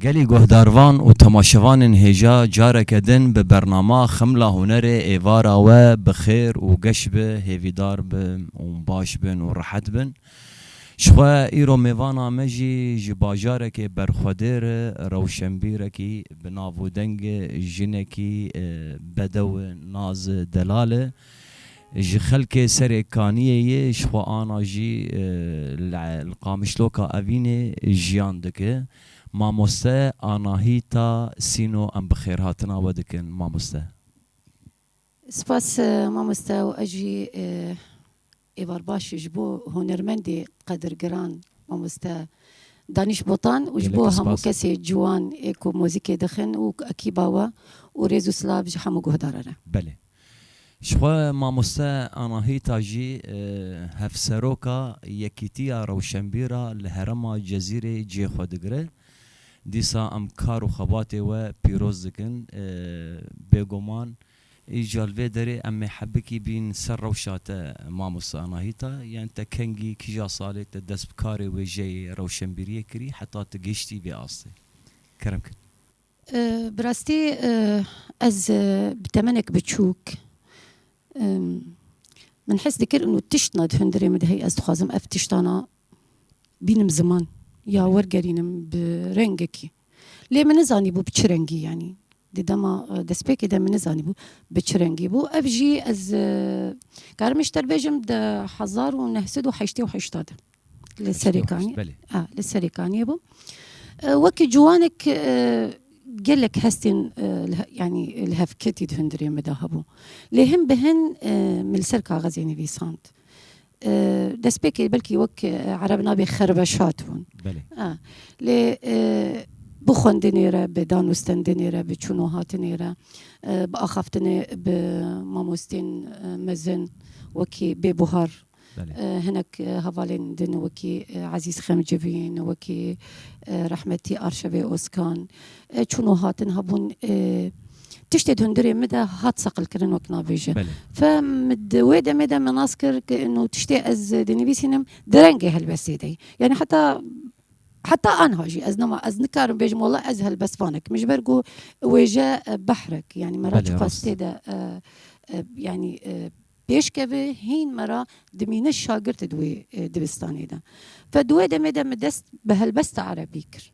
Gelê guhdarvan û temaşevanên hêja careke din bi bernama Xemla Hunerê êvara we bi xêr û geş be, hêvîdar bin û baş bin û rehet bin. Jixwe îro mêvana me jî ji bajarekê berxwedêr, rewşenbîrekî bi nav û deng, jinekî bedew Naz Delal e. Ji xelkê serê Kaniyê ye, jixwe ana jî li Qamişloka Evînê jiyan dike. Mamoste, Anahîta Sîno em bi xêrhatina we dikin mamoste. Spas mamoste û ez jî êvar baş ji bo hunermendê qedirgiran mamoste Danîş Botan û ji bo hemû kesê ciwan ê ku mozîkê dixin û ekîba we û rêz û silav ji hemû guhdaran e. Belê. Ji xwe mamoste Anahîta jî Hevseroka Yekîtiya Rewşenbîra li herêma Cezîrê cihê xwe digire. Dîsa em kar û xebatê we pîroz dikin. Bêguman îcar li vê derê em ê hebikî bîn ser rewşa te mamoste Anahîta. Yan te kengî kîja salê te dest bi karê wêjeyê rewşenbîriyê kirî heta tu gihîştî vê astê? Kerem kir. Bi rastî ez bi temenek biçûk min hes dikir û tişt na di hundirê min de heye. Ez dixwazim ev tiştana bînim ziman ya wergerînim bi rengekî. Lê min nizanîbû bi çi rengî yanî. Di dema e, destpêkê de min nizanîbû bi çi rengî bû. Ev jî ez e, karim ji te bêjim di hezar û neh sed û heştê û heşta de li Serêkaniyê li Serêkaniyê bûm. E, wekî ciwanek e, gelek hestên yanî li hevketî di hundirê min de hebû. Lê hin bi hin min li ser kaxezê nivîsand. Destpêkê belkî wek ereb nabê xerweşat bûn. Belê. A. Lê bi xwendinê re, bi dan û stendinê re, bi çûn û hatinê re, bi axaftinê bi mamostên mezin wekî Bêbuhar, hinek hevalên din wekî Ezîz Xemcivîn, wekî rehmetî Arşevê Ozkan, çûn û hatin hebûn Tiştê di hundirê min de hat seqilkirin wek navêje. Fe min di wê demê de min nas kir ki ino tiştê ez dinivîsînim di rengê helbestê de ye. Yani heta heta anha jî ez nema ez nikarim bêjim wala ez helbestvanek min ji ber ku wêje behrek yani me ra Belê, çiqas rast. tê de e, e, yani e, pêşkeve hîn me ra dimîne şagird di wê e, dibistanê de. Fe di wê demê de min dest bi helbesta erebî kir.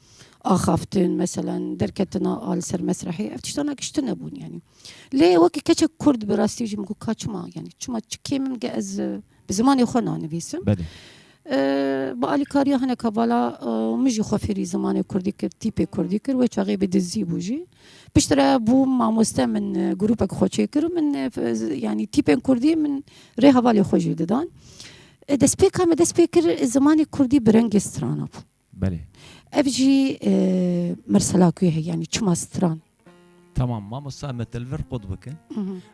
axaftin mesela derketina a li ser mesrehê ev tiştana giş tune bûn yanî lê wekî keçek kurd bi rastî jî min got ka çima yanî çima çi kêm min ke ez bi zimanê xwe nanivîsim bi alîkariya hineka vala min jî xwe fêrî zimanê kurdî kir tîpê kurdî kir wê çaxê bi dizî bû jî piştre re bû mamoste min grûpek xwe çê kir û min yanî tîpên kurdî min rê hevalê xwe jî didan destpêka me dest pê kir zimanê kurdî bi rengê strana bû Belê. Ev jî mirsela ku ye yanî çima stran. Tamam mamosta em ê telvir qut bikin.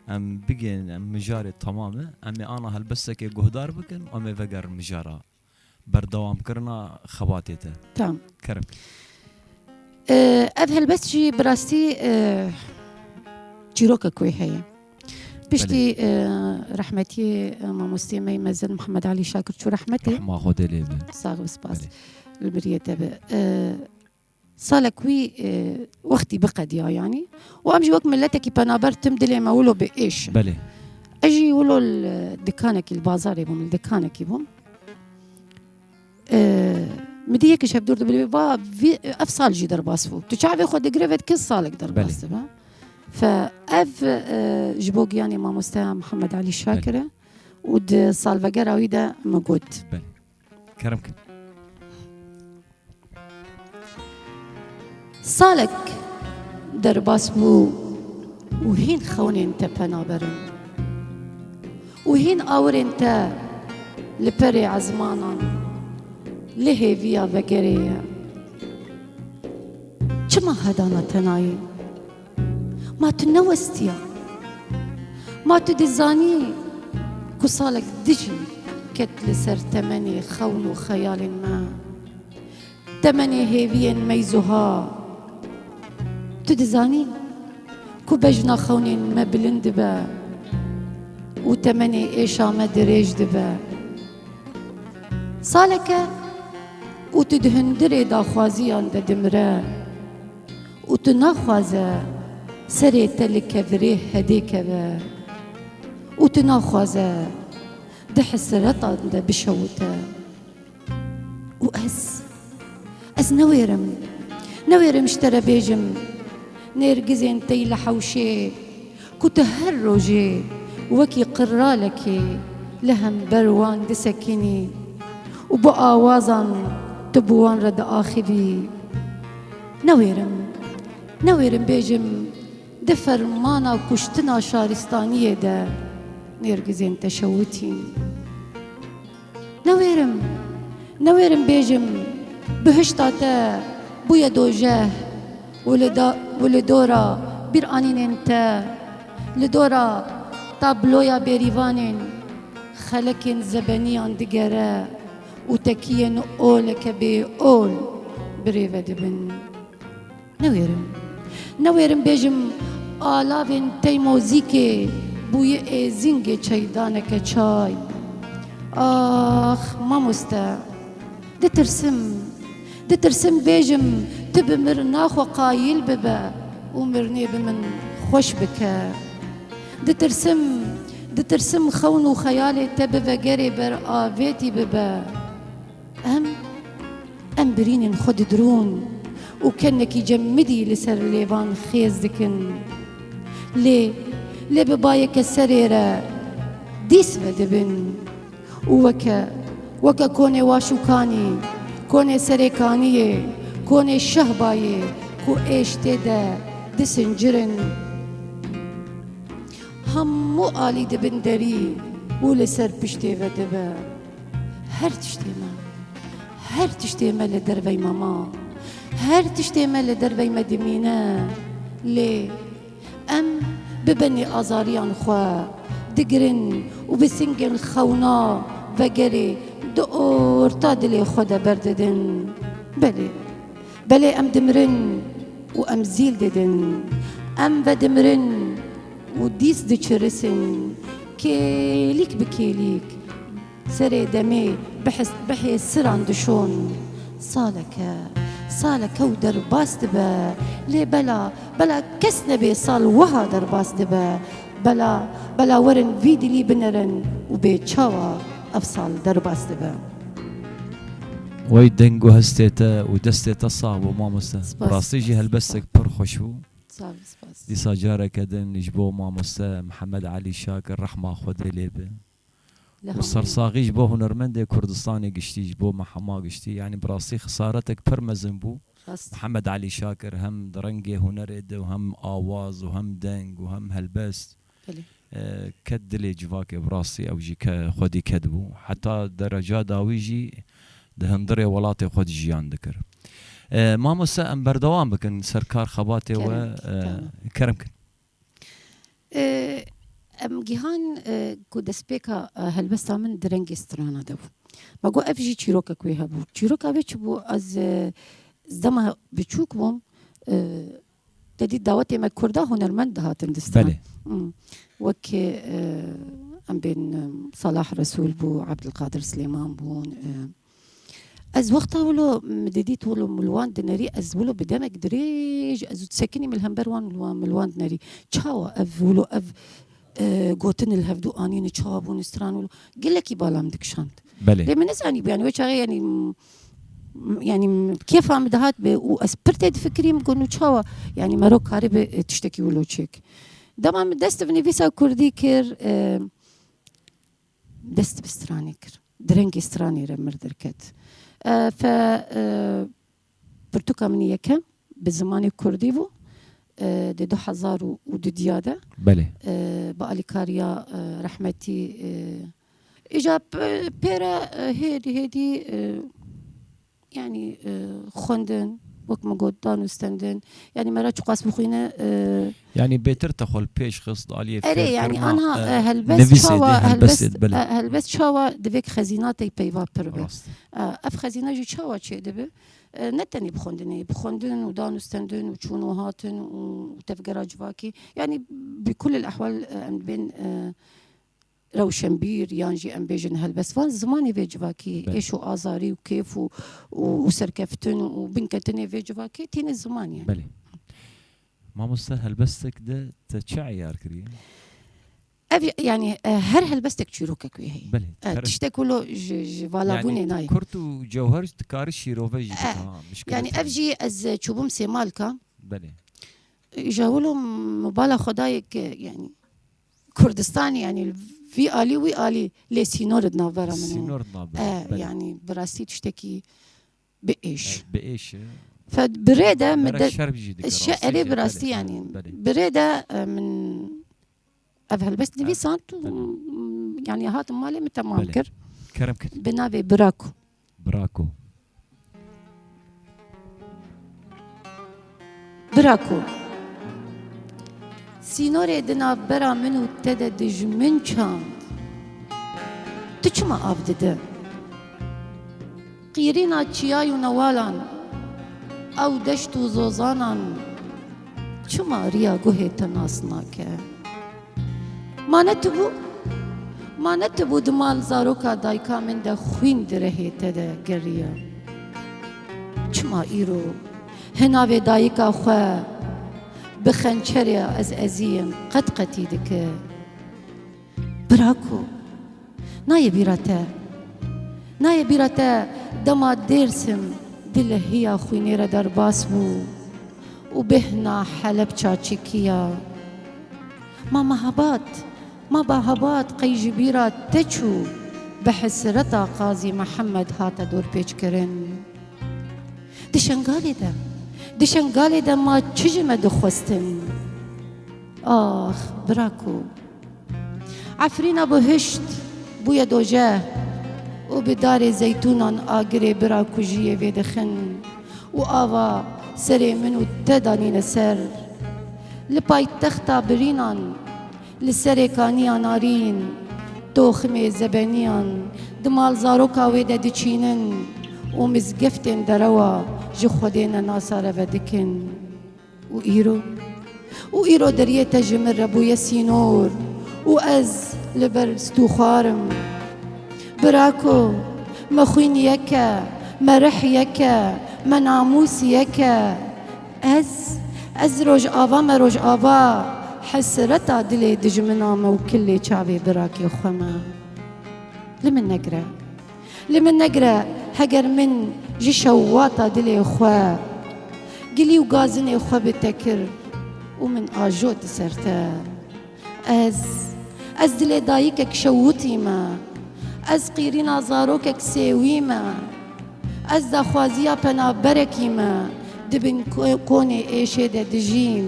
Em bigên em mijarê tamam e. Em ê ana helbestekê guhdar bikin û em ê vegerin mijara berdewamkirina xebatê te. Tamam. Kerim. Ev helbest jî bi rastî çîrokek wê heye. Piştî rehmetî mamostê me mezin Muhammed Alî Şakir çû rehmetê Ma xwe dê lê bin. Sağ ol spas. Li biriyê te bi. Salek wî wextî biqediya yanî û em jî wek miletekî penaber tim dilê me wilo bi êş. Belê. Ez jî wilo dikanekî li bazarê bûm li dikanekî bûm. Mi dî yekî şevdûr dibî va vî ev sal jî derbas bû. Tu çavê xwe digire ve kes salek derbas dibe. Fe ev ji bo giyanê mamosteya Mihemed Elî Şakir e û di salvegera wî de min got. Kerim kin. Salek derbas bû û hîn xewnên te pena berin û hîn awirên te li perê ezmanan lê hêviya vegerê ye. Çima hedana tenayî? Ma tu newestiya. Ma tu dizanî ku salek dijî ket li ser temenê xewn û xeyalên me. Temenê hêviyên meyzuha Tu dizanî ku bejna xewnên me bilind dibe û temenê êşa me dirêj dibe. Saleke û tu di hundirê daxwaziyan de dimire û tu naxwaze serê te li kevirê hedê keve û tu naxwaze di hisiretan de bişewite. û ez ez newêrim newêrim ji te re bêjim nêrgizên tey li hewşê ku tu her rojê wekî qirralekê li hember wan disekînî û bi awazan tu bi wan re diaxivî newêrim newêrim bêjim di fermana kuştina şaristaniyê de nêrgizên te şewitîn. Newêrim, newêrim bêjim bihişta te bûye dojeh û li da û li dora bîranînên te, li dora tabloya bêrîvanên xelekên zebeniyan digere û tekiyên oleke bêol birêve dibin. Newêrim. Newêrim bêjim alavên Teymozîkê bûye êzingê çeydaneke çay. Ax mamoste. Ditirsim. Ditirsim bêjim tu bi mirina xwe qayîl bibe û mirinê bi min xweş bike. Ditirsim, ditirsim xewn û xeyalê te bi vegerê ber avêtî bibe. Em em birînên xwe didirûn û kenekî cem midî li ser lêvan xêz dikin. Lê lê bi bayeke serê re dîs vedibin û weke weke konê waşûkanî, konê serêkaniyê, konê şehbayê ku êş tê de disincirin. Hemû alî dibin derî û li ser piştê ve dibe. Her tiştê me, her tiştê me li dervey me ma. Her tiştê me li dervey me dimîne. Lê em bi benê azariyan xwe digirin û bi singên xewna vegerê di orta dilê xwe de berdidin. Belê. Belê em dimirin û em zîl didin, em vedimirin û dîs diçirisin, kêlîk bi kêlîk serê demê bihê siran dişon. Saleke, saleke û derbas dibe, lê bela, bela kes nebê sal wiha derbas dibe, bela, bela werin vî dilî binerin û bê çawa. Ev sal derbas dibe. Wey deng û hestê te û destê te sax bo mamoste. Bi rastî jî helbestek pir xweş bû. Dîsa careke din ji bo mamoste Mihemed Elî Şakir rehma Xwedê lê be. Û sersaxî ji bo hunermendê Kurdistanê giştî, ji bo me hema giştî. Yanî bi rastî xisaretek pir mezin bû. Mihemed Elî Şakir hem di rengê hunerê de û hem awaz û hem deng û hem helbest Ket dilê civakê bi rastî ew jî xwedî ket bû. Heta dereca dawî jî di hundirê welatê xwe de jiyan dikir. Mamoste em berdewam bikin ser kar xebatê we kerem kin. Em gihan ku destpêka helbesta min di rengê strana de bû. Me got ev jî çîrokek wê hebû. Çîroka wê çi bû ez dema biçûk bûm Te dît dawetê me Kurda hunermend dihatin distan. Wek em bên Salah Resûl bû, Ebdilqadir Silêman bûn. Ez wexta wilo min dê dît wilo min li wan dinerî ez wilo bi demek dirêj ez û sekinî min li hember wan min li wan dinerî. Çawa ev wilo ev gotin li hevdû anîn û çawa bûn stran wilo gelekî bala min dikişand. Lê min nizanîbû yanî wê çaxê yanî yani kêfa min dihat bê û ez pir tê difikirîm ku nû çawa yani mero karîbê tiştekî wilo çêk. Dema min dest bi nivîsa kurdî kir dest bi stranê kir. Di rengê stranê re mir derket. Fe pirtûka min yekem bi zimanê kurdî bû. Di du hezar û du diya de. Belê. Bi alîkariya rehmetî Îja pê re hêdî hêdî yanî xwendin wek min got dan û stendin yanî me re çiqas bixwîne yanî bêtir te xwe li pêş xist aliyê Erê yanî anha helbest çawa helbest çawa divê ki xezînatê peyva pir be ev xezîne jî çawa çê dibe ne tenê bi xwendinê bi xwendin û dan û stendin û çûn û hatin û tevgera civakî yanî bi kulil ehwal em dibên rewşenbîr yan jî em bêjin helbest van zimanê vê civakî êş û azarî û kêf û û serkeftin û binketinê vê civakê tîne ziman ye. Belê. Mamoste helbestek de te çi eyar kiriye? Ev yani e, her helbestek çîrokek wê heye. Belê. E, Tiştek ku lo ji ji valabûnê Yani nayê. kurt û cewher dikari şîrove jî bike ha. mişkilê Yani te ev ne. jî ez e, çûbûm sêmalka. Belê. Ji hewilo mobala xwedayek e, yani Kurdistanê yanî vî alî wî alî lê sînor di navbera min û e yanî bi rastî tiştekî bi êş bi êş e fed bi rê de min de erê bi rastî yanî bi rê de min ev helbest nivîsan û yanî hatim malê min temam kir kerem kir bi navê bira ku Brako. Brako. Sînorê di navbera min û te de dijmin çand. Tu çima av dide? Qîrîna çiyay û newalan, ew deşt û zozanan çima riya guhê te nas nake? Ma netibû Ma netibû di mal zaroka dayika min de xwîn di rehê te de geriya. Çima îro hinavê dayika xwe bi xençerê ez eziyim qet qetî dike. Bira ku Nayê bîra te. Nayê bîra te dema Dêrsim di lehiya xwînê re derbas bû û bêhna Helepça çekiya. Ma Mehabat, ma Bahabat qey ji bîra te çû bi hesreta Qazî Mihemed hate dorpêçkirin. Di Şengalê de, di Şengalê de ma çi ji me dixwestin? Ax, bira ku. Efrîna bi hişt bûye doje û bi darê zeytûnan agirê bira kujiyê vêdixin û ava serê min û te danîne ser. Li paytexta birînan li serê kaniya narîn toximê zebeniyan di malzaroka wê de diçînin û mizgeftên derewa ji Xwedê ne nasare vedikin. Û îro, û îro deriyê te ji min re bûye sînor û ez li ber stû xwar im. Birako, me xwîn yek e, me rih yek e, me namûs yek e. Ez, ez rojava me rojava hesreta dilê dijmina me û kilê çavê birakê xwe me li min negire. Li min negire heger min ji şewata dilê xwe gilî û gazinê xwe bi te kir û min ajot li ser te. Ez, ez dilê dayikek şewitî me, ez qîrîna zarokek sêwî me, ez daxwaziya penaberekî me di bin konê êşê de dijîm.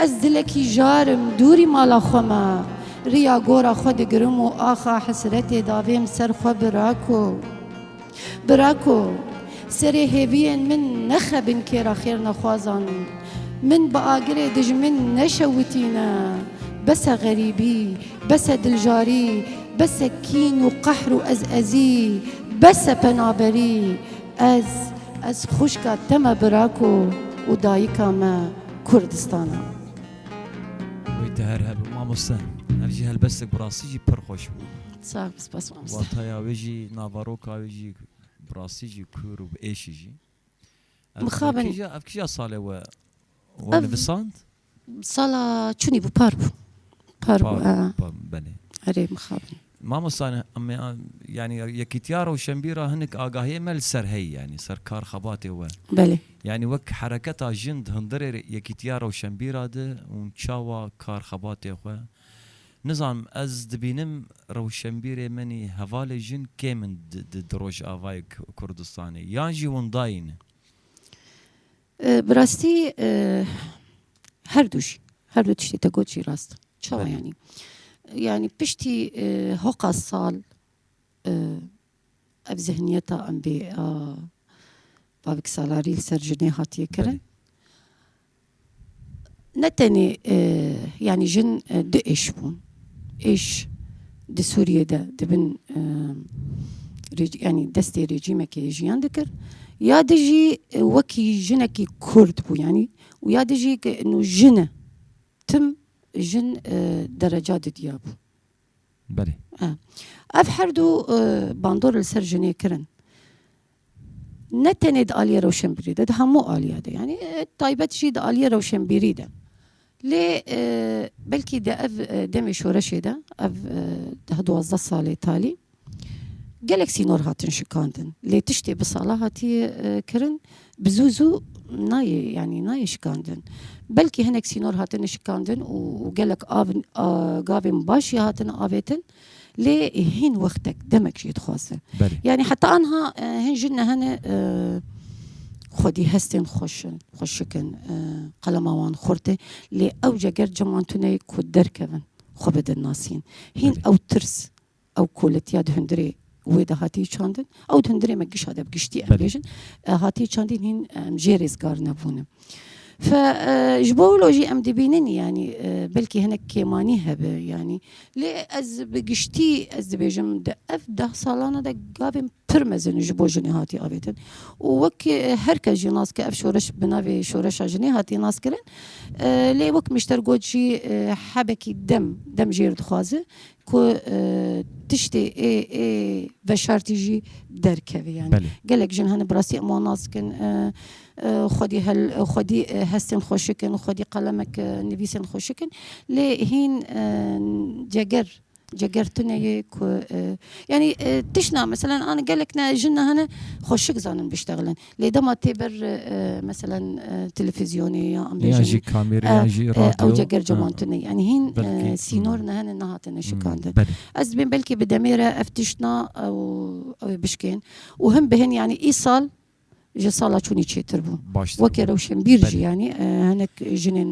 Ez dilekî jar im dûrî mala xwe me, riya gora xwe digirim û axa hesretê davêm ser xwe Birako! Birako! Serê hêviyên min nexebin kêra xêrnexwazan, min bi agirê dijmin neşewitîne, bese xerîbî, bese diljarî, bese kîn û qehr û ezezî, bese penaberî, ez, ez xwişka te me Birako û dayika me Kurdistan a. Wê te her hebû mamoste. Ev jî helbestek bi rastî jî pir xweş bû. Sağ ol, spas mamoste. Wataya wê jî, navaroka wê jî bi rastî jî kûr û bi êşî jî. Mixabin. Ev kîja, ev kîja salê we we nivisand? Sala çûnî bû, par bû. Par bû, belê. Erê mixabin. Mamosta yanî Yekîtiya Rewşenbîr a hinek agahiyê me li ser heye yanî ser kar xebatê we. Belê. Yanî wek hereketa jin di hundirê Yekîtiya Rewşenbîr a de û çawa kar xebatê xwe nizanim ez dibînim rewşenbîrê menî hevalê jin kêm in di Rojavayê Kurdistanê yan jî winda yîn. Bi rastî herdû jî her du tiştê te got jî rast in. Çawa yanî? Yanî piştî hoqa sal ev zihniyeta em bê a bavik salarî li ser jinê hatiye kirin. Ne tenê yanî jin du êş bûn. Êş di Sûriyê de di bin yanî destê rejîmekê jiyan dikir. Ya di jî wekî jinekî Kurd bû yanî û ya di jî jin e. Tim jin dereca didiyabû. Belê. Ev her du bandor li ser jinê kirin. Ne tenê di aliyê rewşenbîrî de, di hemû aliya de yanî taybet jî di aliyê rewşenbîrî de. Lê belkî di ev demê şoreşê de, ev deh duwazdeh salê talî Gelek sînor hatin şikandin lê tiştê bi sala hatiye kirin bi zû zû nayê yanî nayê şikandin. Belkî hinek sînor hatine şikandin û gelek av gavên baş jî hatine avêtin lê hîn wextek demek jî dixwaze. Yanî heta anha hin jin ne hene xwedî hestên xweşin xweşikin qelema wan xurt e lê ewce ger ciman tuneyê ku derkevin xwe bidin nasîn hîn ew tirs Ew koletiya di hundirê wê de hatiye çandin. Ew di hundirê me gişa de bi giştî em bêjin hatiye çandîn hîn em jê rêzgar nebûne. Fe ji bo wilo jî em dibînin yanî belkî hinek kêmanî hebe yanî lê ez bi giştî ez dibêjim di ev deh salana de gavên pir mezin ji bo jinê hatiye avêtin û wek her kes jî nas ke ev şoreş bi navê şoreşa jinê hatiye nas kirin lê wek mişter got jî hebekî dem dem jêr dixwaze Ku tiştê ê ê veşartî jî derkeve yani. Belê. Gelek jin hene bi rastî em wan nas dikin. Xwedî hel xwedî hestên xweşik in, xwedî qelemek nivîsên xweşik in. Lê hîn ceger ceger tune ye ku yani tişna meselen an gelek ne jin ne hene xweşik zanin biştexilin. lê dema tê ber meselen televîzyonê ya jî kamêrê yan jî radyo ewce ger cewan tune yanî hîn sînor ne hene nehatine şikandin ez dibên belkî bi demê re ev tiştna ew ê bişkên û him bi hin yanî îsal ji sala çûnî çêtir bû weke rewşenbîr jî yanî hinek jinên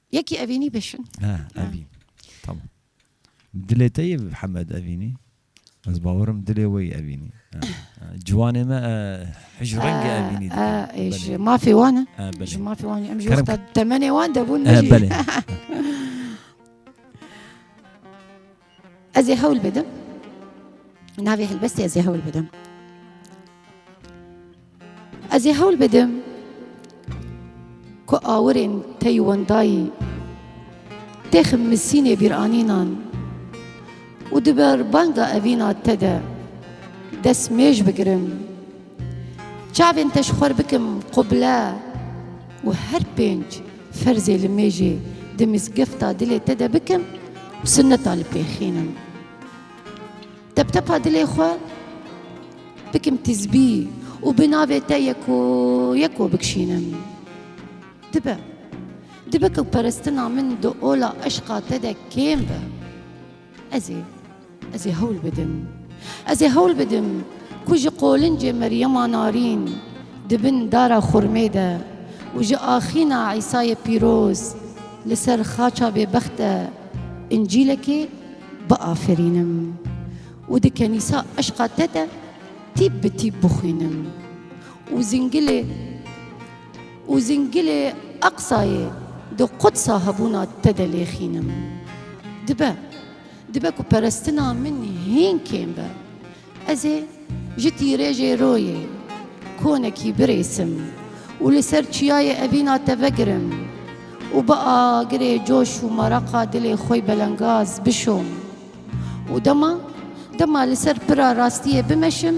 Yekî evînî bişin. He evîn. Tamam. Dilê te yê Hemed evînî. Ez bawerim dilê wê evînî. Ciwanê me hij rengê evînî dikin. Ji mafê wan e. Ji mafê wan em ji wexta temenê wan debûn. Belê. Ez ê hewl bidim. Navê helbestê ez ê hewl bidim. Ez ê hewl bidim ku awirên tey wendayî tê ximmisînê bîranînan û di ber banga evîna te de dest mêj bigirim. Çavên te ji xwe re bikim qubile û her pênc ferzê li mêjê di mizgefta dilê te de bikim û sunneta li pê xînim. Teptepa dilê xwe bikim tizbî û bi navê te yeko yeko bikişînim. Dibe. Dibe ku perestina min di ola eşqa te de kêm be. Ez ê ez ê hewl bidim. Ez ê hewl bidim ku ji qolincê Meryema Narîn di bin dara xurmê de û ji axîna Îsayê Pîroz li ser xaça bêbext de Încîlekê biafirînim û di kenîsa eşqa te de tîp bi tîp bixwînim û zingilê Û zingilê Eqsayê di Qudsa hebûna te de lêxînim. Dibe, dibe ku perestina min hîn kêm be. Ez ê ji tîrêjê royê konekî birêsim û li ser çiyayê evîna te vegirim û bi agirê coş û meraqa dilê xwe belengaz bişom. Û dema, dema li ser pira rastiyê bimeşim,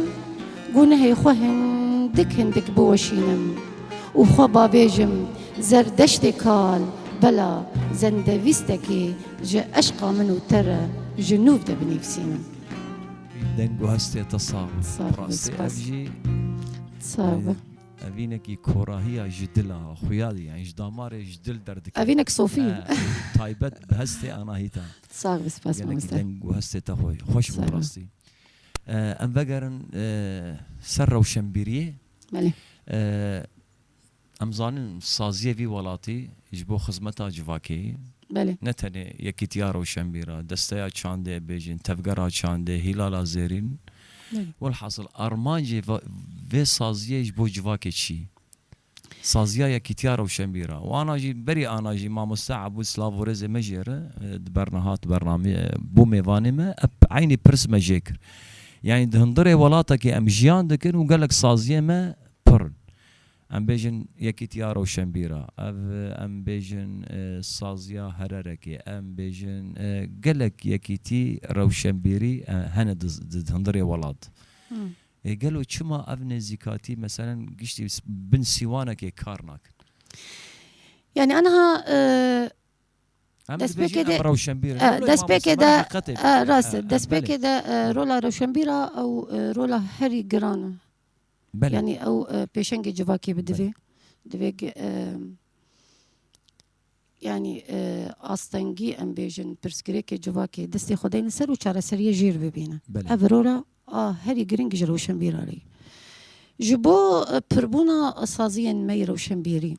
gunehê xwe hindik hindik biweşînim û xwe babêjim Zerdeştê kal, bela zendevîstekê ji eşqa min û te re ji nû de binivîsînim. Deng û hestê te sax be. Sağ ol, Rastî spas. ev jî Sağ ol. evînekî korahiya ji dil a, xuya dî, yan ji damarê ji dil derdikeve. Evînek sofî. He, taybet bi hestê Anahîta. Sağ bi spas Gelekî mamoste. deng û hestê te xwe xweş bû Sağ ol. rastî. Eh, Em vegerin eh, ser rewşenbîriyê. Belê. Eh, Em zanin saziyê vî welatî ji bo xizmeta civakê ye. Belê. Ne tenê Yekîtiya Rewşenbîra, Desteya Çandê bêjin, Tevgera Çandê, Hîlala Zêrîn. Belê. Welhasil armancê va- vê saziyê ji bo civakê çi ye? Saziya Yekîtiya Rewşenbîr a. Wana jî berî ana jî Mamoste Ebûd Slav û Rêzê me jê re di ber re hat bername bû mêvanê me ep eynî pirs me jê kir. Yanî di hundirê welatekê em jiyan dikin û gelek saziyên me pir in. Em bêjin Yekîtiya Rewşenbîr a, ev em bêjin Saziya Hererekê, em bêjin gelek yekîtî rewşenbîrî hene di di hundirê welat. Ê gelo çima ev nêzîkatî meselen giştî bin sîwanekê kar nakin? Yanî aniha destpêkê de destpêkê de rast e destpêkê de rola rewşenbîr a ew rola herî giran e. Yanî ew pêşengê civakê bi divê divê Yanî astengî em bêjin pirsgirêkê civakê destê xwe deyne ser û çareseriyê jêr bibîne. Ev birora a herî girîng ji rewşenbîra re ye. Ji bo pirbûna saziyên me yê rewşenbîrî.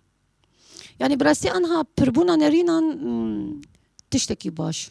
Yanî bi rastî anha pirbûna nerînan tiştekî baş.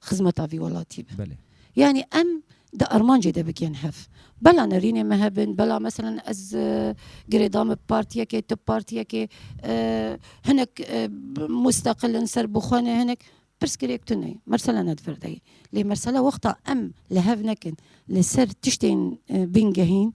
xizmeta vî welatî be. Belê. Yanî em di armancê de bikên hev. Bela nerînê me hebin, bela meselen ez girêdan bi partiyekê, tu partiyekê, hinek musteqil in, serbixwe ne, hinek pirsgirêk tune ye. Mersela ne di vir de ye. Lê mersela wexta em li hev nekin li ser tiştên bingehîn,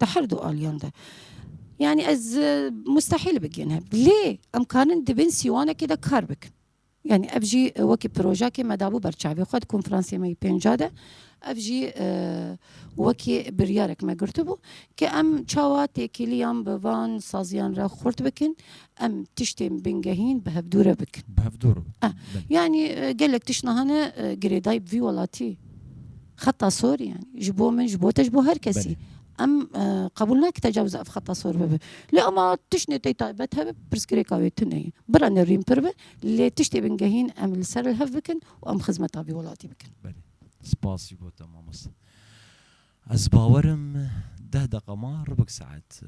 Di her du aliyan de. Yani ez e, mustahil bigin hep. Lê em karin di bin sîwanekê de kar bikin. Yani ev jî e, wekî projeyekê me dabû ber çavê xwe di konferansê me yî pênca de. Ev jî e, wekî biryarek me girtibû ke em çawa têkiliyan bi van saziyan re xurt bikin, em tiştên bingehîn bi hevdûre bikin. Bi hevdûr. Yani e, gelek tişt nahane girêdayî bi vî welatî Xeta sor yani ji bo min ji bo te ji bo her kesî. Em qebûl nake tecawuz ev xeta sor bibe. Lê ama tiştê tê taybet hebe pirsgirêka wê tune ye. Bira nerîn pir be lê tiştê bingehîn em li ser li hev bikin û em xizmeta vî welatî bikin. Belê. Spas jî bo te mamoste. Ez bawer im deh deqa ma ribik saet.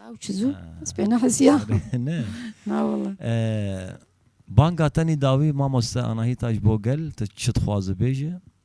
Ew çi zû? Ez pê nehisiya. Ne. Na wala. Banga tenî dawî mamoste Anahîta ji bo gel tu çi dixwaze bêje.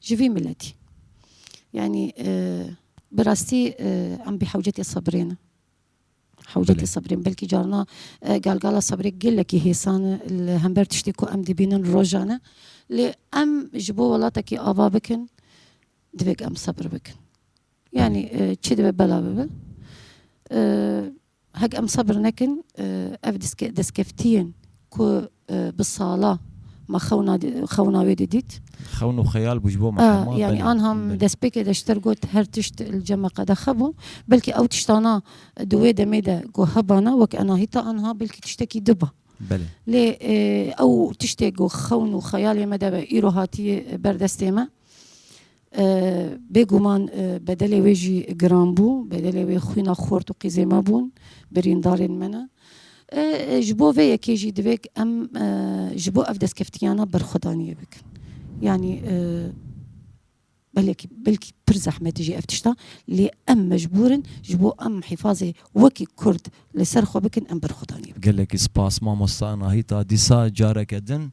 Ji vî miletî. Yanî bi rastî em bi hewcetê sebrê ne. Hewcetê sebrê ne. Belkî carna galgala sebrê gelekî hêsan e li hember tiştê ku em dibînin rojan e. Lê em ji bo welatekî ava bikin divêk em sebr bikin. Yanî çi dibe bela bibe. Hek em sebr nekin ev destkeftiyên ku bi sala ma xewna xewna wê didît. Xewn û xeyal bû ji bo me hema. Yanî anha min destpêkê de ji te re got her tişt li cem e qedexe bû. Belkî ew tiştana di wê demê de ku hebana wek enahîta anha belkî tiştekî diba. Lê ew tiştê ku xewn û xeyalê me de be îro hatiye berdestê me. Bê guman bedelê wê jî giran bû, bedelê wê xwîna xort û qîzê me bûn, birîndarên me ne. Ji bo vê yekê jî divê ku em ji bo ev destkeftiyana berxwedaniyê bikin. Yanî belekî belkî pir zehmet e jî ev tişta lê em mecbûr in ji bo em hîfazê wekî kurd li ser xwe bikin em berxwedaniyê bikin. Gelekî spas mamosta Nahîta dîsa careke din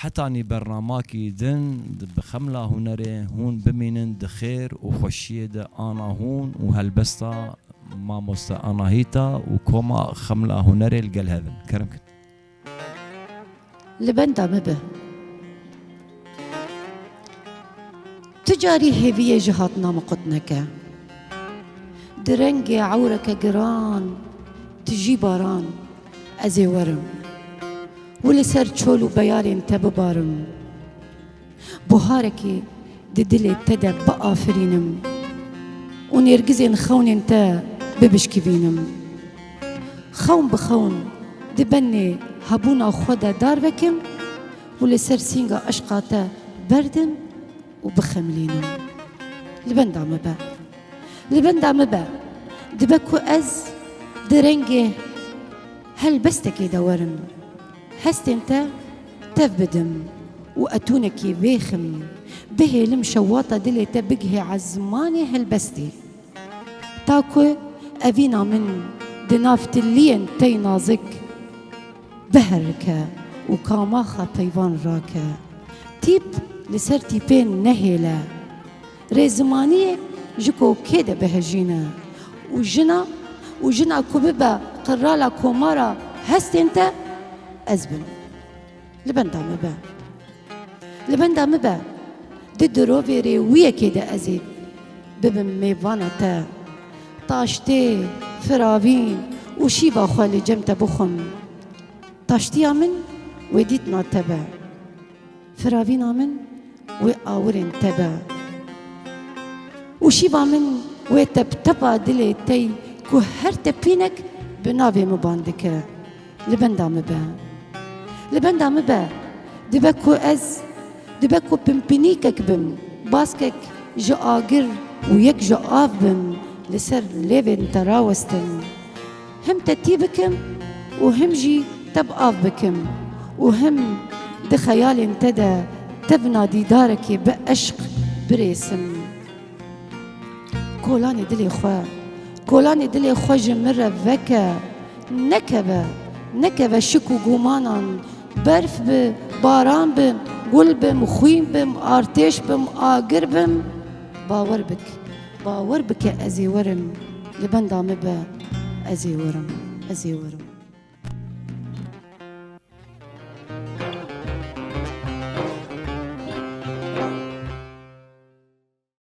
Hetanî bernamakî din bi Xemla Hunerê hûn bimînin di xêr û xweşiyê de ana hûn û helbesta Mamoste Anahîta û Koma Xemla Hunerê li gel hev in. Kerem kin. Li benda me be. Ti carî hêviyê ji hatina min qut neke. Di rengê ewreke giran ti jî baran ez ê werim û li ser çol û beyarên te bibarim. Buharekî di dilê te de biafirînim û nêrgizên xewnên te bibişkîbînim. Xewn bi xewn di benê hebûna xwe de dar vekim. Û li ser sînga eşqa te berdim û bixemilînim. Li benda min be. Li benda min be. Dibe ku ez di rengê helbestekê de werim. Hestên te tev bidim û etûnekî bêxim. Bihêlim şewata dilê te bigihê ezmanê helbestê. Ta ku evîna min di nav tiliyên tey nazik. Biherike û kamaxa peyvan rake. Tîp li ser tîpê nehêle. Rê zimaniyê ji ku kê de bihejîne û jina û jina ku bibe qirala komara hestên te ez bim. Li benda min be. Li benda min be. Di dirovê rê wiyekê de ezê bibim mêvana te. Taştê, firavîn û şîva xwe li cem te bixwim. Taştiya min wê dîtina te be. Firavîna min wê awirên te be. Û şîva min wê teptepa dilê tey ku her tepînek bi navê miban dike. Li benda min be. Li benda min be. Dibe ku ez dibe ku pimpinîkek bim. Baskek ji agir û yek ji av bim li ser lêvên te rawestin. Him te tî bikim û him jî te bi av bikim û him di xeyalên te de tev nadîdarekê bi eşq birêsim. Kolanê dilê xwe, kolanê dilê xwe ji min re veke, nekeve, nekeve şik û gumanan, berf bi, baran bi, gul bim, xwîn bim, artêş bim, agir bim, bawer bik, bawer bike ez ê werim, li benda min be, ez ê werim, ez ê werim.